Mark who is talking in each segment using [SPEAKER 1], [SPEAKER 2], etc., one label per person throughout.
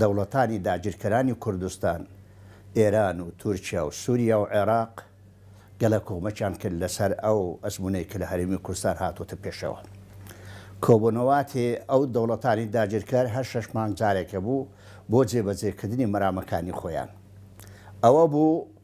[SPEAKER 1] دەوڵەتانی داگیرکەرانی کوردستان، ئێران و تورکیا و سوریا و عێراق، گەلە کۆمەکیان کرد لەسەر ئەو ئەزموونەی کە لە هەرێمی کوردستان هاتووەتە پێشەوە. کۆبوونەواتی ئەو دەوڵەتانی داگیرکەر هەر شەش مانگ جارێک هەبوو بۆ جێبەجێکردنی مەرامەکانی خۆیان. ئەوە بوو.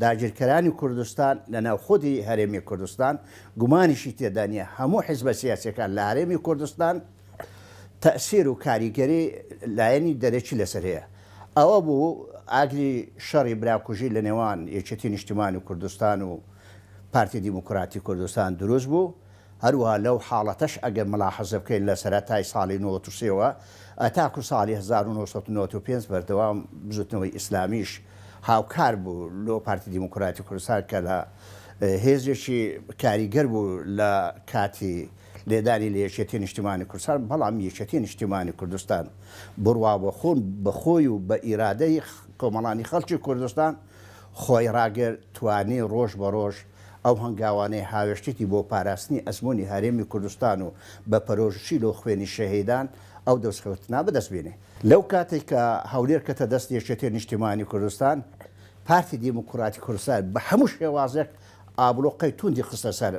[SPEAKER 1] داگیرکەرانی کوردستان لە ناو خودی هەرێمی کوردستان گومانیشی تێدا نیە هەموو حیزبە سیاسیەکان لە هەرێمی کوردستان تەئسیر و کاریگەری لایەنی دەرەکی لەسەر هەیە ئەوە بوو ئاگری شەڕی براکوژی لە نێوان یەکێتی نیشتیمانی کوردستان و پارتی دیموکراتی کوردستان دروست بوو. هەروەها لەو حاڵەتەش ئەگەر مولاحەزە بکەین لە سەرەتای ساڵی نۆوەد و سێ وە تاکو ساڵی هەزار و نۆ سەد و نەوەد و پێنج بەردەوام بزوتنەوەی ئیسلامیش هاوکار بوو لۆ پارتی دیموکراتی کوردستان کە لە هێزێکی کاریگەر بوو لە کاتی لێدانی لە یەکێتی نیشتیمانی کوردستان بەڵام یەکێتی نیشتیمانی کوردستان بروا بە خۆن بە خۆی و بە ئیرادەی کۆمەڵانی خەڵکی کوردستان خۆی ڕاگرت توانی ڕۆژ بە ڕۆژ ئەو هەنگاوانەی هاوێشتێتی بۆ پاراستنی ئەزموونی هەرێمی کوردستان و بە پەرۆژوچیل و خوێنی شەهیدان ئەو دەستکەوتنە بەدەست بێنێ. لەو کاتەی کە هەولێر کەتە دەست یەکێتی نیشتیمانی کوردستان، پارتی دیموکراتی کوردستان بە هەموو شێوازێک ئابڵوقەی توندی خستە سەر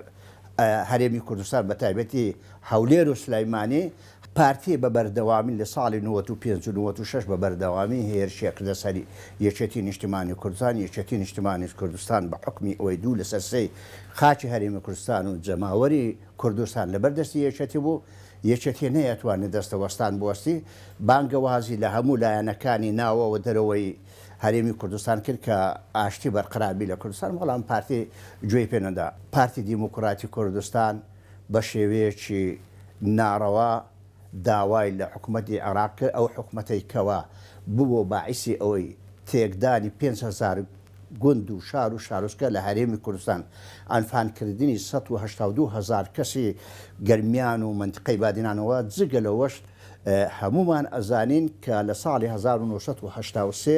[SPEAKER 1] هەرێمی کوردستان بە تایبەتی هەولێر و سلێمانی پارتی بە بەردەوامی لە ساڵی نەوەد و پێنج و نەوەد و شەش بە بەردەوامی هێرشێک لە سەر یەکێتی نیشتیمانی کوردستان، یەکێتی نیشتیمانی کوردستان بە حوکمی ئەوەی دوو لە سەر سێی خاکی هەرێمی کوردستان و جەماوەری کوردستان لە بەر دەستی یەکێتی بوو، یەکێتی نەیەتوانی دەستەوەستان بوەستی، بانگەوازی لە هەموو لایەنەکانی ناوە و دەرەوەی هەرێمی کوردستان کرد کە ئاشتی بەرقرار بی لە کوردستان، بەڵام پارتی گوێی پێ نەدا. پارتی دیموکراتی کوردستان، بە شێوەیەکی ناڕەوا داوای لە حکومەتی عێراق کرد، ئەو حکومەتەی کەوا ببووە باعیسی ئەوەی تێکدانی پێنج هەزار گوند و شار و شارۆچکە لە هەرێمی کوردستان، عەنفانکردنی سەد و هەشتا و دوو هەزار کەسی گەرمیان و مەنتیقەی بادینانەوە، جگە لەوەش هەموومان ئەزانین کە لە ساڵی هەزار و نۆ سەد و هەشتا و سێ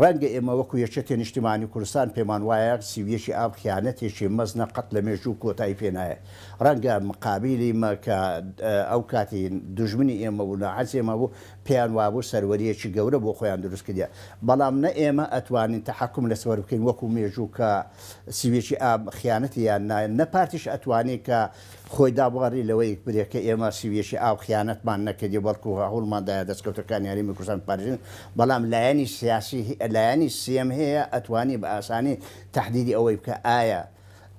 [SPEAKER 1] ڕەنگە ئێمە وەکو یەکێتی نیشتیمانی کوردستان پێمان وایە سی و یەکی ئاب خیانەتێکی مەزنە قەت لە مێژوو کۆتایی پێ نایەت ڕەنگە مقابیلی مە کە ئەو کاتی دوژمنی ئێمە بوو ناحەزی ئێمە بوو پێیان وابوو سەروەریەکی گەورە بۆ خۆیان دروست کردیە بەڵام نە ئێمە ئەتوانین تەحەکوم لە سفر بکەین وەکو مێژوو کە سی و یەکی ئاب خیانەتی یان نا نە پارتیش ئەتوانی کە خۆی دابواری لەوەی بێت کە ئێمە سویەکی ئاو خیانەتمان نەکردی بەڵکو هەوڵمان دایە دەستکەوتەکانی هەرێمی کوردستان بپارێزین بەڵام لایەنی سیاسی لایەنی سێم هەیە ئەتوانی بە ئاسانی تەحدیدی ئەوەی بکە ئایا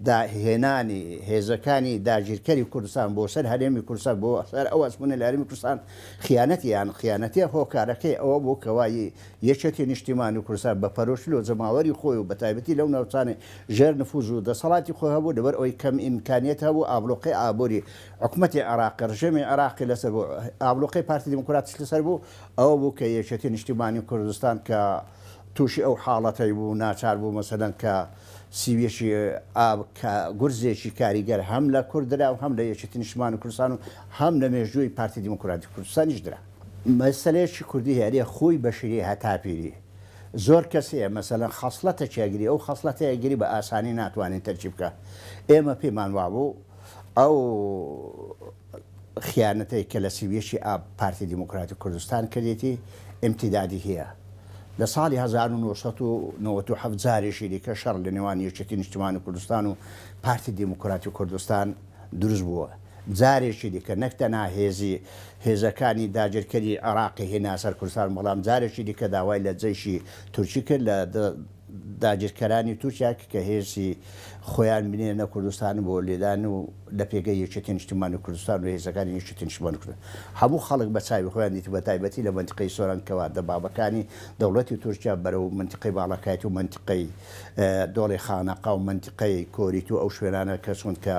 [SPEAKER 1] دا هێنانی هێزەکانی داگیرکەری کوردستان بۆ سەر هەرێمی کوردستان بۆ سەر ئەو ئەزمونە لە هەرێمی کوردستان خیانەتیان خیانەتیە هۆکارەکەی ئەوە بوو کەوا ی یەکێتی نیشتیمانی کوردستان بە پەرۆشی لۆ جەماوەری خۆی و بەتایبەتی لەو ناوچانەی ژێر نفوز و دەسەڵاتی خۆی هەبوو، لەبەر ئەوەی کەم ئیمکانیەت هەبوو ئابڵوقەی ئابوری حکومەتی عێراقی، ڕژێمی عێراقی لەسەر بوو، ئابڵوقەی پارتی دیموکراتیش لەسەر بوو، ئەوە بوو کە یەکێتی نیشتیمانی کوردستان کە تووشی ئەو حاڵەتەی بوو ناچار بوو مەسەلەن کە سیویەکی ئاب کە گورزێکی کاریگەر هەم لە کورد درا و هەم لە یەکێتی نیشتیمانی کوردستان و هەم لە مێژووی پارتی دیموکراتی کوردستانیش درا. مەسەلەیەکی کوردی هەیە ئەرێ خوی بەشری هەتا پیری زۆر کەس هەیە مەسەلەن خەسڵەتەکی ئەگری ئەو خەسڵەتەی ئەگری بە ئاسانی ناتوانین تەرکی بکا ئێمە پێمان وابوو ئەو خیانەتەی کە لە سی و یەکی ئاب پارتی دیموکراتی کوردستان کردیەتی ئیمتیدادی هەیە لە ساڵی هەزار و نۆ سەد و نەوەد و حەفت جارێکی دیکە شەڕ لە نێوان یەکێتی نیشتمانی کوردستان و پارتی دیموکراتی کوردستان دروست بووە. جارێکی دیکە نەک تەنها هێزی هێزەکانی داگیرکەری عێراقی هێنا سەر کوردستان، بەڵام جارێکی دیکە داوای لە جەیشی تورکی کرد لە داگیرکەرانی تورکیا کە هێزی خۆیان بنێرنە کوردستان بۆ لێدان و لە پێگەی یەکێتی نیشتیمانی کوردستان و هێزەکانی یەکێتی نیشتیمانی کوردستان هەموو خەڵک بە چاوی خۆیان دیت بە تایبەتی لە مەنتیقەی سۆران کەوا دەبابەکانی دەوڵەتی تورکیا بەرەو مەنتیقەی باڵەکایەتی و مەنتیقەی دۆڵی خانەقا و مەنتیقەی کۆریت و ئەو شوێنانە کەچوون کە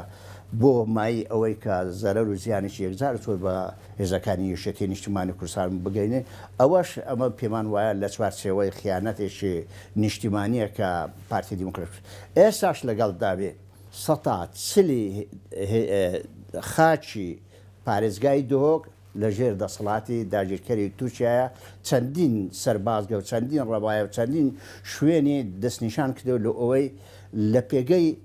[SPEAKER 1] بۆ مایەی ئەوەی کە زەرەر و زیانێکی یەکجار و چۆن بە هێزەکانی یەکێتیی نیشتیمانی کوردستان بگەینێ، ئەوەش ئەمە پێمان وایە لە چوارچێوەی خیانەتێکی نیشتیمانییە کە پارتی دیموکراتی ئێستاش لەگەڵدا بێ. سەتا چلی خاکی پارێزگای دهۆک لە ژێر دەسەڵاتی داگیرکەری تورکیایە، چەندین سەربازگە و چەندین ڕەبایە و چەندین شوێنی دەستنیشان کردووە لۆ ئەوەی لە پێگەی،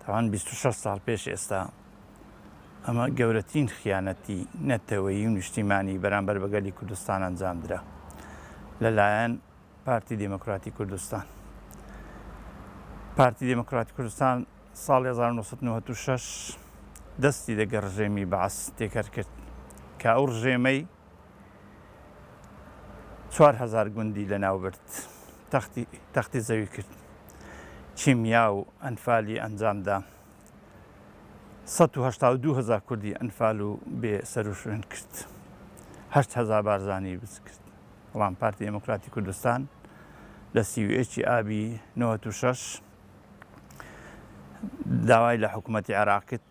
[SPEAKER 2] تاوان بیست و شەش ساڵ پێش ئێستا ئەمە گەورەترین خیانەتی نەتەوەیی و نیشتیمانی بەرامبەر بە گەلی کوردستان ئەنجامدرا لەلایەن پارتی دموکراتی کوردستان پارتی دموکراتی کوردستان ساڵ 1996 دەستی دەگە ڕژێمی باس تێکەر کرد کە ئەو ڕژێمەی چوار هەزار گوندی لەناوبرد، تەختی زەوی کرد، کیمیا و ئەنفالی ئەنجامدا، سەد و هەشتا و دوو هەزار کوردی ئەنفال و بێ سەروشوێن کرد، هەشت هەزار بارزانی بچ کرد، بەڵام پارتی دێموکراتی کوردستان لە سی و یەک ی ئابی نەوەد و شەش داوای لە حکومەتی عێراق کرد،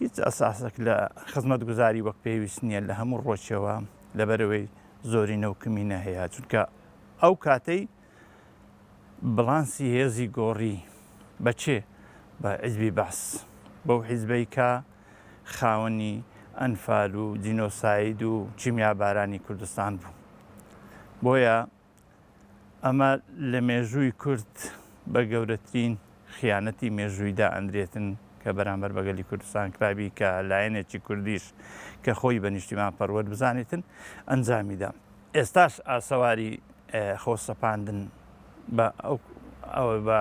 [SPEAKER 2] هیچ ئەساسێک لە خزمەتگوزاری وەک پێویست نییە لە هەموو ڕۆچەوە لەبەرەوەی زۆرینە و کمینە هەیە چونکە ئەو کاتەی بڵانسی هێزی گۆڕی بەچێ بە عزبی بەس بەو حیزبەی کە خاوەنی ئەنفال و جینۆساید و چیمیابارانی کوردستان بوو بۆیە ئەمە لە مێژووی کورد بە گەورەترین خیانەتی مێژووی دائەندرێتن کە بەرامبەر بە گەلی کوردستان کرابی کە لایەنێکی کوردیش کە خۆی بە نیشتیمان پەروەر بزانێتن ئەنجامی دا. ئێستاش ئاسەواری خۆ سەپاندن بە ئەوە بە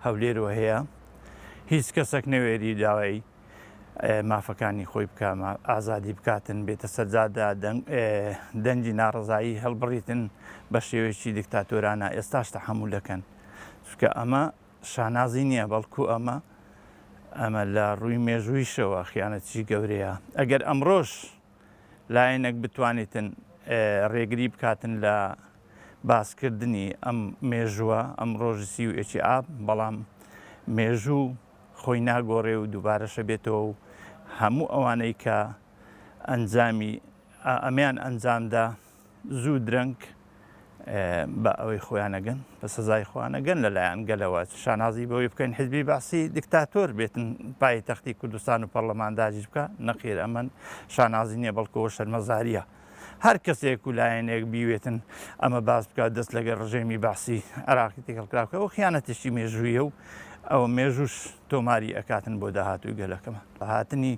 [SPEAKER 2] هەولێرەوە هەیە. هیچ کەسەک نەوێری داوای مافەکانی خۆی بکا ئازادی بکاتن بێتە سەرجادا دەنگی ناڕزایی هەڵبڕیتن بە شێوەیەکی دکتاتۆرانە ئێستاش تە هەموو دەکەن چکە ئەمە شانازی نییە بەڵکو ئەمە ئەمە لە ڕووی مێژوویشەوە خیانەتیی گەورەیە ئەگەر ئەمڕۆش لایەنێک بتوانیتن ڕێگری بکاتن لە باسکردنی ئەم مێژووە ئەم ڕۆژی سی و ئێکی ئاب بەڵام مێژوو خۆی ناگۆڕێ و دووبارەش ئەبێتەوە و هەموو ئەوانەی کە ئەنجامی ئەمەیان ئەنجامدا زوو درەنگ بە ئەوەی خۆیان ئەگەن بە سەزای خۆیان ئەگەن لەلایەن گەلەوە شانازی بەوەی بکەین حزبی بەعسی دیکتاتۆر بێتن پای تەختی کوردستان و پەرلەمان داگیر بکە نەخێر ئەمن شانازی نییە بەڵکەوە شەرمەزاریە. هەر کەسێک و لایەنێک بیوێتن ئەمە باس بکات دەست لەگەر ڕژێمی بەعسی عێراقی تێکەڵ کرا بکە و خیانەتێکی مێژوویە و ئەوە مێژووش تۆماری ئەکاتن بۆ داهاتووی گەلەکەمان بە هاتنی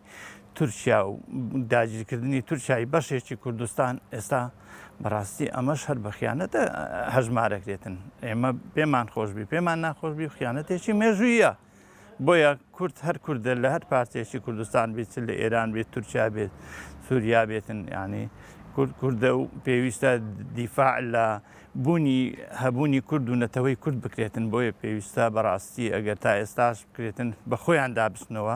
[SPEAKER 2] تورکیا و داگیرکردنی تورکیای بەشێکی کوردستان ئێستا بەڕاستی ئەمەش هەر بە خیانەتە هەژمارەکرێتن ئێمە پێمان خۆشببی پێمان ناخۆشببی خیانەتێکی مێژوویە. بۆیە کورد هەر کوردە لە هەر پارچەیەکی کوردستان بێت چ لە ئێران بێت تورکیا بێت سووریا بێتن یعنی کورد کوردە و پێویستە دیفاع لە بوونی هەبوونی کورد و نەتەوەی کورد بکرێتن بۆیە پێویستە بەڕاستی ئەگەر تا ئێستاش بکرێتن بە خۆیان دابستنەوە